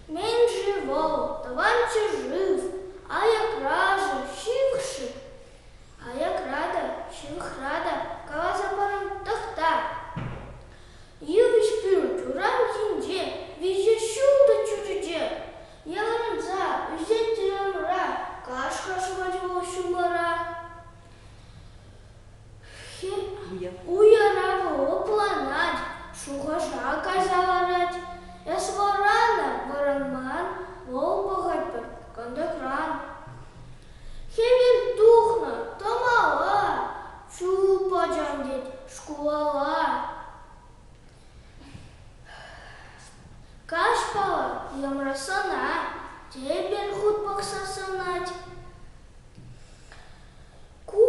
Мень живот, товарищи жив, аяк ража, ҫыхши, аяк рада, ҫывӑх рада, каласа парам тӑхта. Йывӑҫ пӳрт урам енче, виҫӗ ҫултӑ чӳрече, Ярӑнса ӳсет-тӗр ӑмӑра, каш-ха шӑпа-чӑпах ҫумпара. Уяра вӑл лӑпланать, шухӑша кайса ларать. Эс вӑранӑр, вӑранман вӑл пӑхать пӗр кантӑкран. Хӗвел тухнӑ, тӑмала, чуп ачам тет шкулалла. Каҫпа йӑмрасана тепӗр хут пӑхса сӑнать. Ку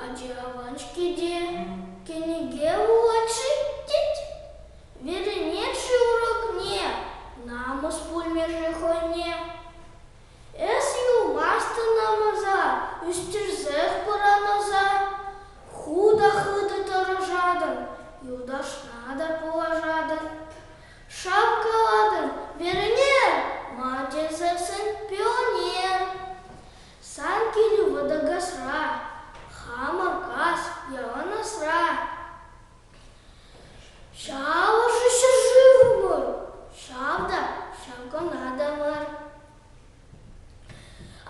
ачи аван-ҫке те, кӗнеке вулать-ши тет? Верӗнет-ши урокне, намӑс пулмӗ-ши хӑйне? Эс юлмастӑн амӑса, ӳстерсех пӑранаса. Хутӑ-хытӑ тӑрӑшатӑн, юлташна та пулӑшатӑн. Шавккалатӑн, Верне! Ма тесессӗн пионер. Сан килӳ вӑтӑ касра, хамӑр кас ялан асра. Ҫавӑншӑн ҫӗршывӑмӑр ҫав та ҫав кӑна та мар.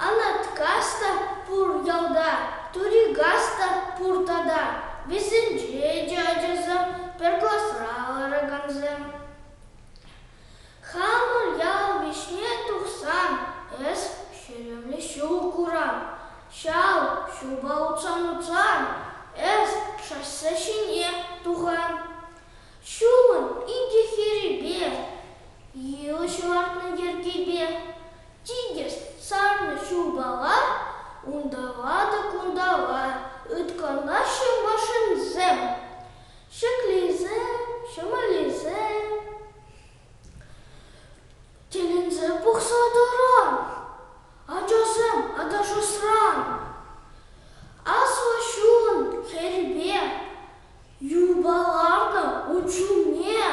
Анаткас та пур ялта, Турикас та пур тата, вӗсенче те ачасем пӗр класра ларакансем. Хамӑр ял вӗҫне тухсан эс ҫӳллӗ ҫул курам. Ҫав ҫулпа утсан-утсан эс шоссе ҫине тухам. Ҫулӑн икӗ хӗрипе, йывӑҫ лартнӑ йӗркепе, тикӗс сарнӑ ҫулпала, унталла та кунталла ыткӑнаҫҫӗ машинсем. Ҫӗклисем, ҫӑмӑллисем. Тӗлӗнсе пӑхса тӑрӑр, ачасем, аташасран. Аслӑ ҫул хӗрпе юпаланӑ ун чухне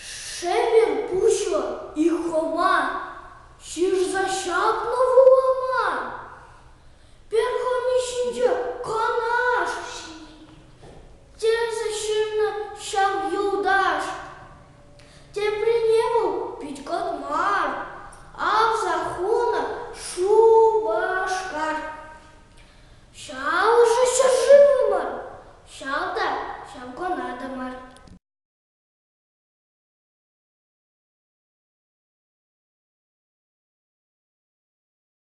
шӗвӗр пуҫлӑ Ихӑма ҫырса ҫапнӑ вулама. Пӗр хӑми ҫинче канаш. Тесе ҫырнӑ ҫав юлташ. Теприне вӑл пит-кӑт мар, авса хунӑ Шупашкар. Ҫав ӑшӑ ҫӗршывӑмӑр, ҫав та ҫав кӑнатӑмӑр.